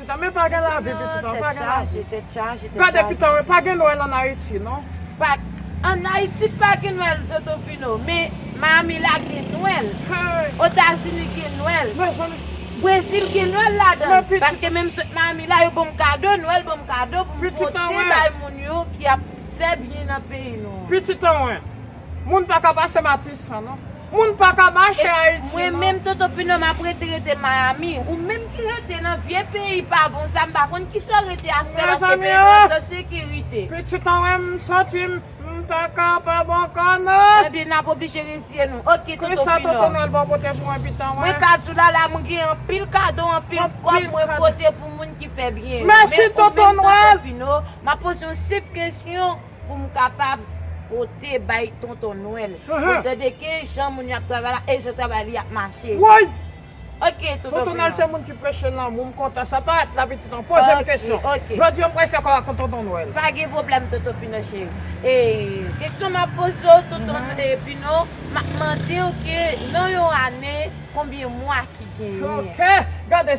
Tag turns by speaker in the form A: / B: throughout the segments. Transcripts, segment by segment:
A: Pitan men pa gen lavi pitit an pa gen lavi. Gad e
B: pitan e pa gen
A: nwèl an ayiti non. Pat.
B: An ayiti pa gen nwèl tonton pino men miami la gen nwèl. Otazini
A: gen
B: nwèl. Mezanmi.
A: Brezil gen nwèl
B: ladan l. Paske
A: menm sot
B: miami la yo banm kado nwèl banm kado pou m pote bay moun
A: yo ki
B: ap fè byen nan peyi nou an. Pitit anwen.
A: Moun paka pase matisan non. Moun paka mache ayiti non. Mwen menm tonton pino map
B: rete rete miami ou menm ki rete nan vye peyi pa bon sa m pa konn kisaw rete ap fè paske peyi nou an san
A: sekirite.
B: Pitit an wè m
A: santi m pa ka pa bon kò non. Ebyen nap oblije
B: reziye nou ok tonton pino. Konsa tonton nwèl
A: ba w
B: pote
A: pou
B: mwen
A: pitan wè. Mwen ka di w la la mwen
B: gen anpil kado anpil kòb mwen
A: pote
B: pou
A: moun ki fè
B: byen yo men ou menm tonton pino
A: map poze
B: yon senp kesyon. Pou m kapab pote bay tonton nwèl. Pou l tande ki
A: jan moun
B: yo ap travay la e jan travay li ap mache. Woy! Ok
A: tonton Bruno.
B: Tonton nwèl se moun ki preche
A: lanmou. M kontan sa. Pa ret la pitit an. Poze m kesyon. Ok ok. Jodi an
B: pral
A: fè
B: kò ak yon
A: tonton nwèl. Pa gen pwoblèm tonton
B: Pino cheri. E kesyon m ap poze w tonton Pino, m ap mande w ke nan yon ane konbyen mwa ki genyen? Ok! Gade!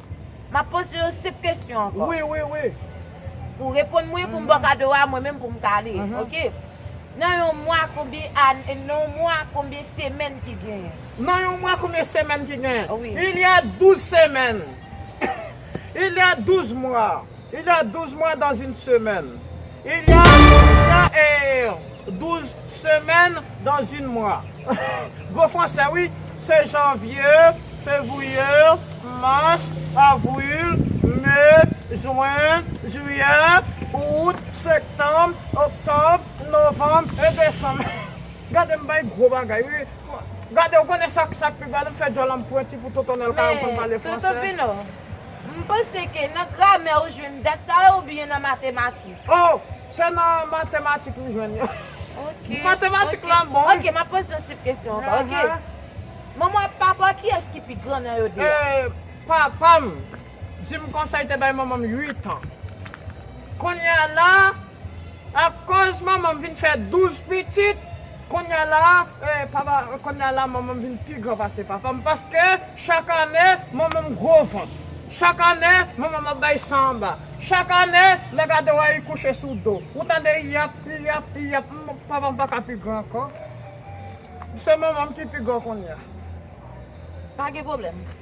B: M ap poze yo senp kesyon ankò. Wi, wi, wi.
A: Pou w reponn
B: mwen, pou m ba w kado a, mwen menm pou m ka ale. Ok. Nan yon mwa, konbyen ane, nan yon mwa, konbyen semèn ki genyen? Nan yon mwa, konbyen
A: semèn ki genyen? Wi. Il y a
B: 12
A: semaines. Il y a 12 mois. Il y a douze mois dans une semaine Il y a il y a eh douze semaines dans une mois Gwo fransè wi Se janvier Février Mars Avril Mai Juin Juillet Août Septembre Octobre Novembre et Décembre Gade m bay gwo bagay wi Gade ou konnen sa k pi ba la m fè djòl an m pwenti pou Tonton Nèl ka aprann pale fransè.
B: M panse ke nan gramè ou jwenn dat sa yo oubyen nan matematik? Oh! Se
A: nan matematik m jwenn yo. Ok. Matematik
B: la m bon
A: wi. Ok, m
B: ap
A: poze yon senp
B: kesyon ankò ok. Manman ak papa w kiyès ki pi gran nan yo 2 a? Eh! Papa
A: m di m konsa li te bay manman m 8 an. Kounya la. Akoz manmanm vin fè 12 pitit, konnya la papa konnya la manmanm vin pi gran pase papam paske chak ane manmanm gwo vant, chak ane manmanm ap bay san anba, chak ane lè gade wè li kouche sou do, ou tande yap yap yap papam pa ka pi gran ankò se manmanm ki pi gran konnya.
B: Pa gen pwoblèm.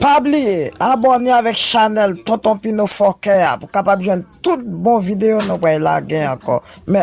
C: Pa bliye abòne avèk chanèl tonton pino fòkè a pou kapab jwenn tout bon videyo nou pral lage ankò mèsi.